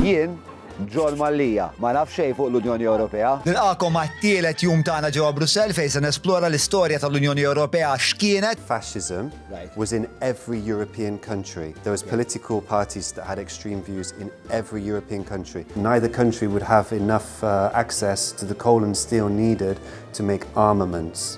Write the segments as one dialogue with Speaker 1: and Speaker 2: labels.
Speaker 1: Jien, John Mallia, ma naf xejn fuq l-Unjoni Ewropea. Nilqagħkom għat-tielet jum tagħna ġewwa Brussell fejn se nesplora l-istorja tal-Unjoni Ewropea x'kienet, Fascism was in every European country. There was political parties that had extreme views in every European country. Neither country would have enough access to the coal and steel needed to make armaments.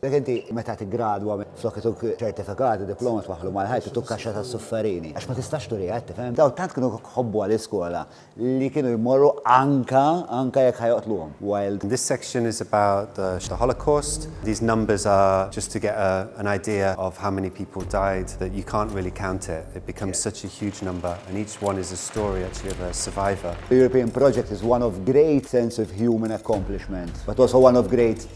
Speaker 1: Jekk inti meta tiggradwa flok ituk ċertifikat u diploma twaħħlu mal-ħajt ituk kaxxa tas-sufferini għax ma tistax turiha qed tifhem? Dawn tant kienu jħobbuha l-iskola li kienu jmorru anka anka jekk ħa joqtluhom while This section is about the Holocaust. These numbers are just to get an idea of how many people died that you can't really count it. It becomes such a huge number and each one is a story actually of a survivor. The European project is one of great sense of human accomplishment but also one of great.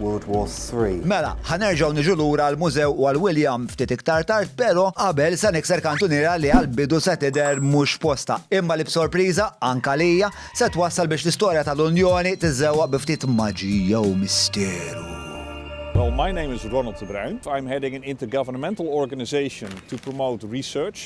Speaker 1: World War Three. Mela, ħa nerġgħu niġu lura għall-mużew u għal William ftit iktar tard, però qabel se nikser kantuniera li għall-bidu se tidher mhux f'postha, imma li b'sorpriża, anke għalija, se twassal biex l-istorja tal-Unjoni tiżżewwaq bi ftit maġija u misteru. Well, my name is Ronald de Bruin. I'm heading an intergovernmental organization to promote research.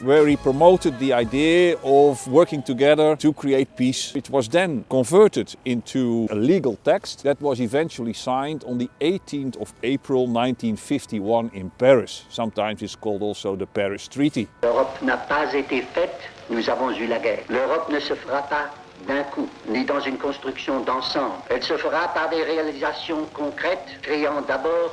Speaker 1: where he promoted the idea of working together to create peace which was then converted into a legal text that was eventually signed on the 18th of April 1951 in Paris. Sometimes it's called also the Paris Treaty. L'Europe n'a pas été faite, nous avons eu la guerre. L'Europe ne se fera pas d'un coup, ni dans une construction d'ensemble. Elle se fera par des réalisations concrètes, créant d'abord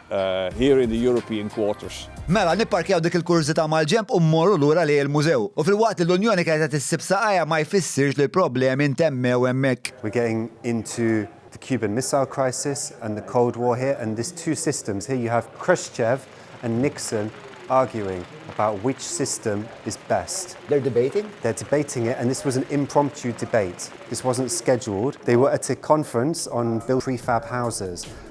Speaker 1: here in the European quarters. Mela, nipparkjaw dik il-kurżità mal-ġenb u mmorru lura lejn il-mużew. U filwaqt li l-Unjoni kienet qed issib saqajha ma jfissirx li l-problemi ntemmew hemmhekk. We're getting into the Cuban Missile Crisis and the Cold War here and there's two systems here, you have Khrushchev and Nixon arguing about which system is best. They're debating? They're debating it and this was an impromptu debate. This wasn't scheduled. They were at a conference on built prefab houses.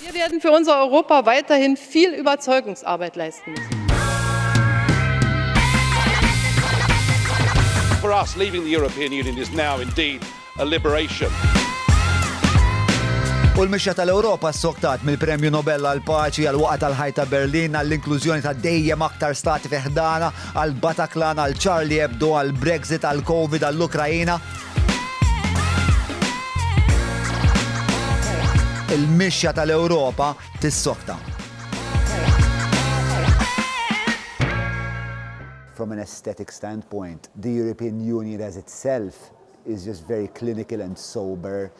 Speaker 1: Wir werden für unser Europa weiterhin viel Überzeugungsarbeit leisten müssen. For us, leaving the European Union is now indeed a liberation. U l-mixja tal-Ewropa ssoktat mill-Premju Nobel għal paċi għal waqa tal-ħajt ta' Berlin għall inklużjoni ta' dejjem aktar stati fiħdana għal Bataklan għal Charlie Hebdo għal Brexit għal Covid għall-Ukrajina. Il-mixja tal-Ewropa tissokta. From an aesthetic standpoint, the European Union as itself is just very clinical and sober.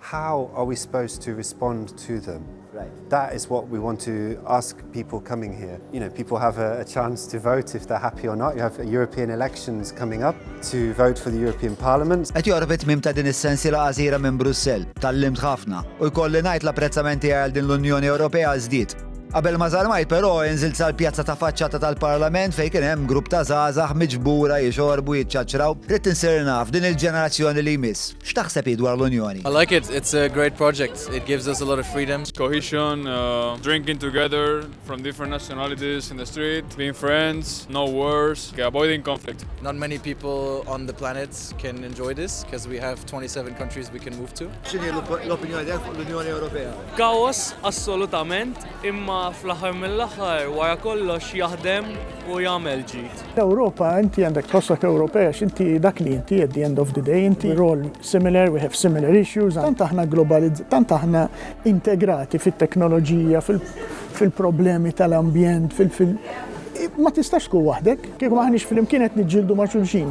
Speaker 1: How are we supposed to respond to them? Right. That is what we want to ask people coming here. You know, people have a, a chance to vote if they're happy or not. You have European elections coming up to vote for the European Parliament. Qed joqrob it-tmim ta' din is-sensiela għażira minn Brussell, tal-limt ħafna, u jkolli ngħid l-apprezzamenti għal din l-Unjoni Ewropea żdied Qabel ma żarmaj però inżil sal-pjazza ta' faċċata tal-Parlament fejn kien hemm grupp ta' żgħażagħ miġbura jixorbu jiċċaċraw. Rrid insir naf din il-ġenerazzjoni li jmiss. X'taħseb hi dwar l-Unjoni? I like it, it's a great project, it gives us a lot of freedom. Cohesion, drinking together from different nationalities in the street, being friends, no wars, avoiding conflict. Not many people on the planet can enjoy this cause we have 27 countries we can move to. X'inhi l-opinjoni tiegħek fuq l-Unjoni Ewropea? Kaos assolutament, imma fl-aħħar mill-aħħar wara kollox jaħdem u jagħmel ġid. L-Ewropa, inti għandek tħossok Ewropej għax inti dak li inti at the end of the day, inti we're all similar, we have similar issues, tant aħna globalizzati, tant aħna integrati fit-teknoloġija, fil-problemi tal-ambjent, ma tistax tkun waħdek. Kieku m'aħniex flimkien qed niġġieldu ma' xulxin.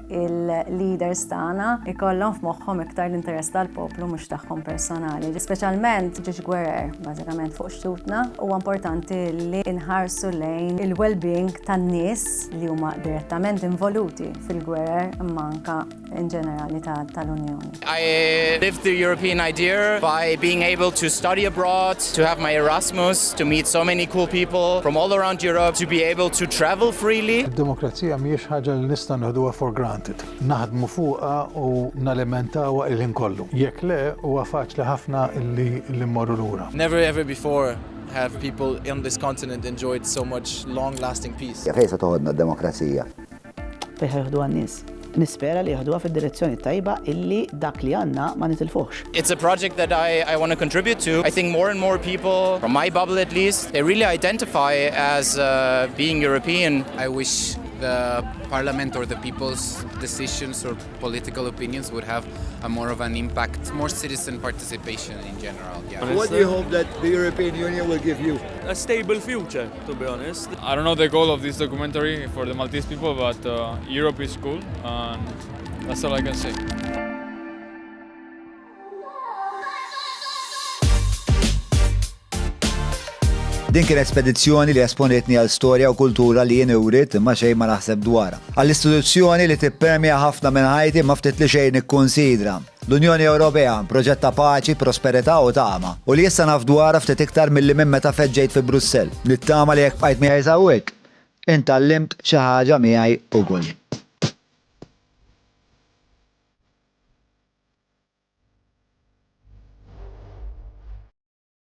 Speaker 1: il-leaders tagħna ikollhom f'moħħhom iktar l-interess tal-poplu mhux tagħhom personali. Speċjalment ġiex gwerer, bażikament fuq xtutna, huwa importanti li nħarsu lejn il-well-being tan-nies li huma direttament involuti fil-gwerer manka in ġenerali tal-Unjoni. I lived the European idea by being able to study abroad, to have my Erasmus, to meet so many cool people from all around Europe, to be able to travel freely. Id-demokrazija mhijiex ħaġa li nista' nieħduha for granted. Naħdmu fuqha u nalimentawha il-ħin kollu. Jekk le, huwa faċli ħafna li mmorru lura. Never ever before have people on this continent enjoyed so much long-lasting peace. Fejn se toħodna d-demokrazija? Fejn ħa joħduha n-nies? Nispera li joħduha fid-direzzjoni t-tajba illi dak li għandna ma nitilfuhx. It's a project that I I want to contribute to. I think more and more people, from my bubble at least, they really identify as being European. I wish the Parliament or the people's decisions or political opinions would have a more of an impact, more citizen participation in general. What do you hope that the European Union will give you? A stable future. to be honest. I don't know the goal of this documentary for the Maltese people, but uh, Europe is cool, and that's all I can say. Din kienet spedizzjoni li esponitni għal storja u kultura li jien urit ma xejn ma naħseb dwar. Għall-istituzzjoni li tippermja ħafna minn ħajti ma ftit li xejn ikkonsidra. L-Unjoni Ewropea, proġett ta' paċi, prosperità u tama. U li issa naf dwarha ftit iktar milli minn meta feġġejt fi Brussell. Nittama li jekk bqajt miegħi s'hawnhekk, int tgħallimt xi ħaġa miegħi ukoll.